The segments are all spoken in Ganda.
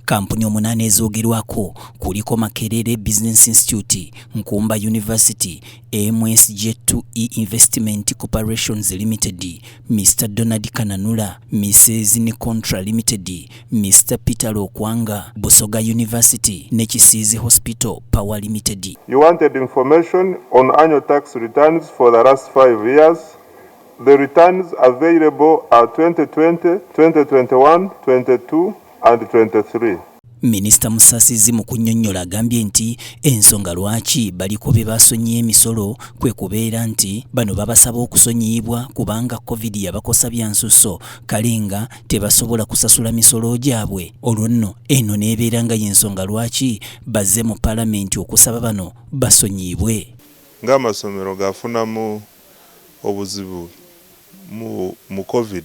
Kampuni omunaana ezoogerwako kuliko Makerere Business Institute, Nkumba University, MSJ2E e Investment Corporations Limited, Mr Donald Kananula, Mrs ne Contra Limited, Mr Peter Lokwanga, Busoga University ne Kisiizi Hospital Power Limited. You wanted information on annual tax returns for the last five years. The returns available are 2020, 2021, 22, and twenty three. Minisita Musasizi mu kunnyonnyola agambye nti ensonga lwaki baliko be basonyiye emisolo kwe kubeera nti bano babasaba okusonyiyibwa kubanga Covid yabakosa bya nsusso kale nga tebasobola kusasula misolo gyabwe olwo nno eno n'ebeera nga y'ensonga lwaki bazze mu Palamenti okusaba bano basonyiyibwe. Ng'amasomero gafunamu obuzibu mu Covid,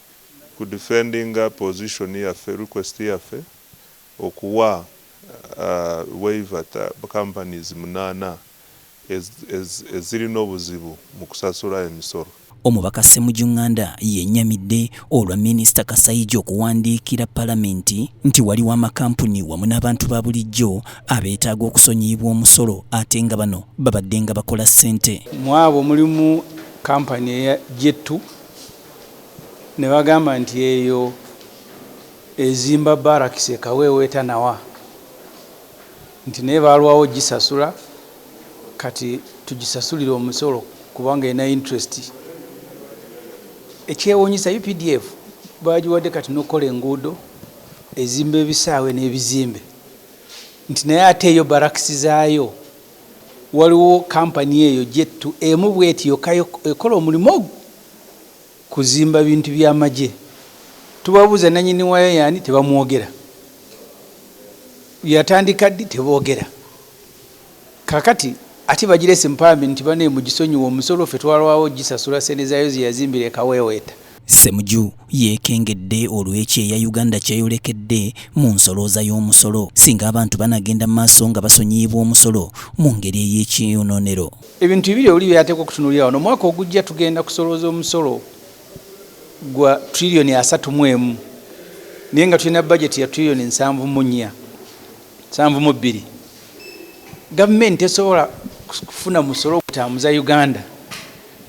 ku defendinga position yaffe request yaffe okuwa waiver ta companies munana ezirina obuzibu mu kusasula emisolo. Omubaka Ssemujju Nganda yenyamidde olwa minisita Kasaija okuwandiikira palamenti nti waliwo amakampuni wamu n'abantu ba bulijjo abeetaaga okusonyiyibwa omusolo ate nga bano babaddenga bakola ssente. Mu abo mulimu kampani eya Jettu Ne bagamba nti, Eyo ezimba barracks e Kaweewo etanawa, nti naye baalwawo ogisasula, kati tugisasulire omusolo kubanga erina interest. Ekyewuunyisa updf baagiwadde kati n'okukola enguudo, ezimba ebisaawe n'ebizimbe, nti naye ate yo barracks zaayo waliwo company eyo gyettu emu bweti yokka ekola omulimu ogwo. kuzimba bintu bya magye tubabuuza nanyini waaya yaani tebamwogera yatandika ddi tebogera kakati ate bagirese mpambi nti bane mugisonyiwa omusolo fe twalwawo gisasula sente zayo zeyazimbira ekaweweeta Ssemuju yeekengedde olw'ekyeya Uganda kyeyolekedde mu nsolooza y'omusolo singa abantu banagenda mu maaso nga basonyiyibwa omusolo mu ngeri ey'ekiyonoonero. Ebintu bibiri oli byateekwa okutunuulira wano. Omwaka ogujja tugenda kusolooza omusolo gwa triliyoni asatu mu emu naye nga tulina bajeti ya triliyoni nsanvu mu nnya nsanvu mu bbiri. Gavumenti tesobola kufuna musolo ogutambuza Uganda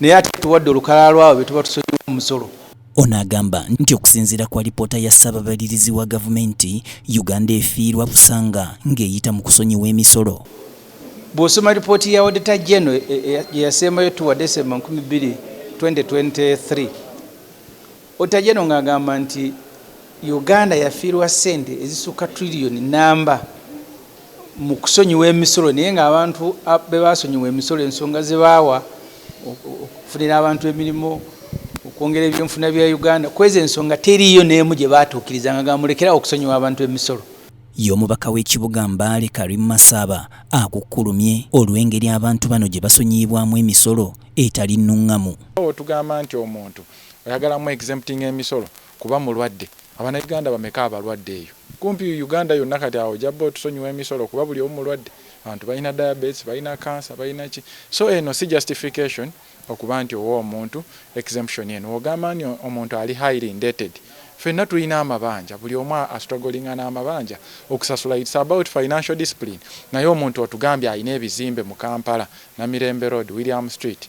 naye ate tuwadde olukalala lwabo be tuba tusonyiwa omusolo. Ono agamba nti okusinziira ku alipoota ya Ssaababalirizi wa gavumenti, Uganda efiirwa busanga ng'eyita mu kusonyiwa emisolo. Bw'osoma lipooti ya Odita Geno e, e, e, gye yasembayo tuwa Desemba 2 2023, Odita Geno ng'agamba nti Uganda yafiirwa ssente ezisukka triliyoni nnamba mu kusonyiwa emisolo naye ng'abantu be baasonyiwa emisolo ensonga ze baawa okufunira abantu emirimu okwongera ebyenfuna bya Uganda kwezi ensonga teriiyo n'emu gye baatuukiriza nga gamulekerawo okusonyiwa abantu emisolo. Ye omubaka w'ekibuga Mbale Karim Masaaba akukkulumye olw'engeri abantu bano gye basonyiyibwamu emisolo etali nnungamu. Nga bwotugamba nti omuntu oyagala mu exemptinga emisolo kuba mulwadde, abanauganda bameka abalwadde eyo kumpi Uganda yonna kati awo ojabba otusonyiwa emisolo kuba buli omu mulwadde, abantu balina diabates, balina cancer, balina ki so eno si justification. Okuba nti owa omuntu exemption eno wogamba nti omuntu ali highly indated fenna tulina amabanja buli omu a strugglinga namabanja okusasula it's about financial discipline naye omuntu otugambye alina ebizimbe mu Kampala Namirembe road William street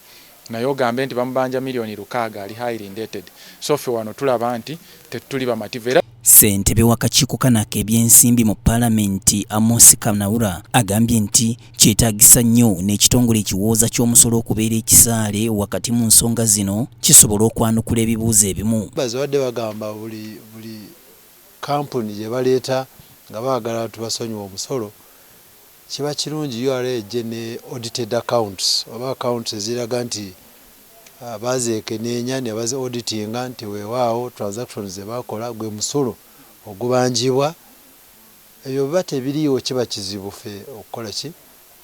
naye ogambe nti bamubanja million lukaaga ali highly indated so ffe wano tulaba nti tetuli bamativu era Ssentebe w'akakiiko kano ak'ebyensimbi mu Palamenti, Amos Kanaura agambye nti kyetaagisa nnyo n'ekitongole ekiwooza ky'omusolo okubeera ekisaale wakati mu nsonga zino kisobole okwanukula ebibuuzo ebimu. Baze babadde bagamba buli buli kkampuni gye baleeta nga baagala tubasonyiwe omusolo. Kiba kirungi ura ejje ne audited accounts oba accounts eziraga nti baazeekeneenya ne bazi auditinga nti weewaawo transactions ze baakola gwe musolo ogubanjibwa. Ebyo bwe biba tebiriiwo kiba kizibu ffe okukola ki?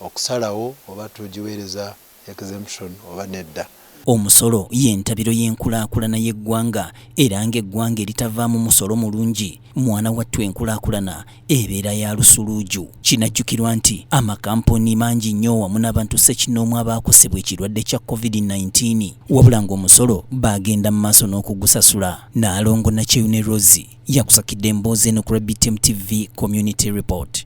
Okusalawo oba tugiweereza exemption oba nedda. Omusolo y'entabiro y'enkulaakulana y'eggwanga era ng'eggwanga eritavaamu musolo mulungi, mwana wattu enkulaakulana ebeera ya lusuluuju. Kinajjukirwa nti amakampuni mangi nnyo wamu n'abantu ssekinnoomu abaakosebwa ekirwadde kya Covid nineteen wabula ng'omusolo baagenda mu maaso n'okugusasula. Nnaalongo Nakyeyune Rosy yakusakidde emboozi eno ku Rebitm TV Community Report.